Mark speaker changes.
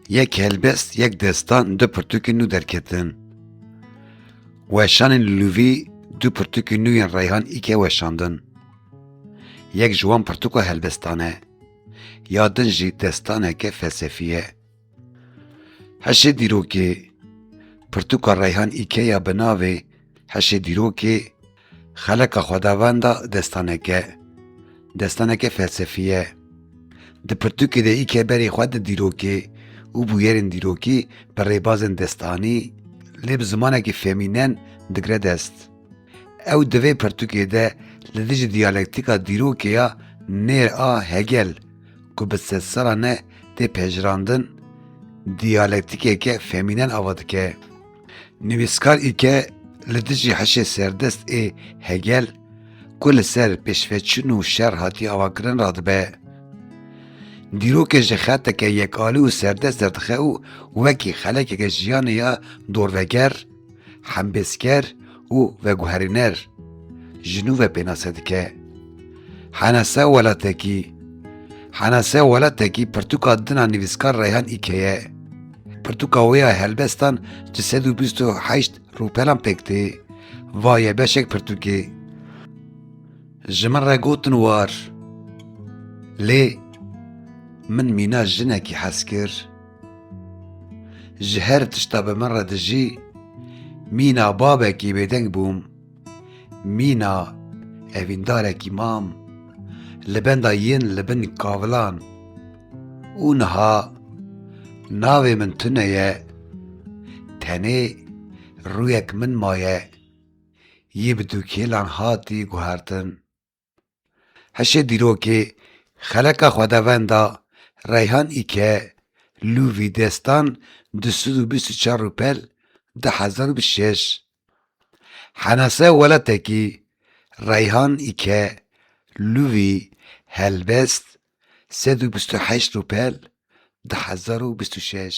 Speaker 1: Yek helbest, yek destan, du pirtûkên nû derketin. Weşanên li Lûvî du pirtûkên nû yên Reyhan Îkê weşandin. Yek ji wan pirtûka helbestan e. Ya din jî destaneke felsefî ye. Heşê dîrokê, Pirtûka Reyhan Îkê ya bi navê Heşê dîrokê Xeleka Xwedavenda destaneke, destaneke felsefî ye. Di pirtûkê de îkê berê xwe di dîrokê û bûyerên dîrokî bi rêbazên destanî lê bi zimanekî femînen digre dest. Ew di vê pirtûkê de li dijî diyalektîka dîrokê ya nêr a Hegel ku bi sedsalan e tê pejirandin, diyalektîkeke femînen ava dike. Nivîskar îke li dijî hişê serdest ê Hegel ku li ser pêşveçûn û şer hatiye avakirin radibe. Dîrokê ji xeteke yekalî û serdest derdixe û wekî xelekeke jiyanê ya dorveger, hembêzker û veguherîner ji nû ve pênase dike. Hene se welatekî Hene se welatekî pirtûka dina nivîskar Reyhan Îke ye. Pirtûka wê ya helbestan di sed û bîst û heşt rûpelan pêk tê. Va ye beşek pirtûkê. Ji min re gotin war. Lê min mîna jinekî hez kir. Ji her tişta bi min re dijî, mîna babekî bêdeng bûm, mîna evîndarekî mam li benda yên li bin kavilan û niha navê min tune ye, tenê rûyek min maye, yî bi dûkêlan hatî guhertin. Hişê dîrokê, xeleka xwedavenda Reyhan î ke lû vî destan du sed û bîst û çar rûpel du hezar û bîst û şeş. Henaseya welatekî, Reyhan î ke lû vî helbest sed û bîst û heşt rûpel du hezar û bîst û şeş.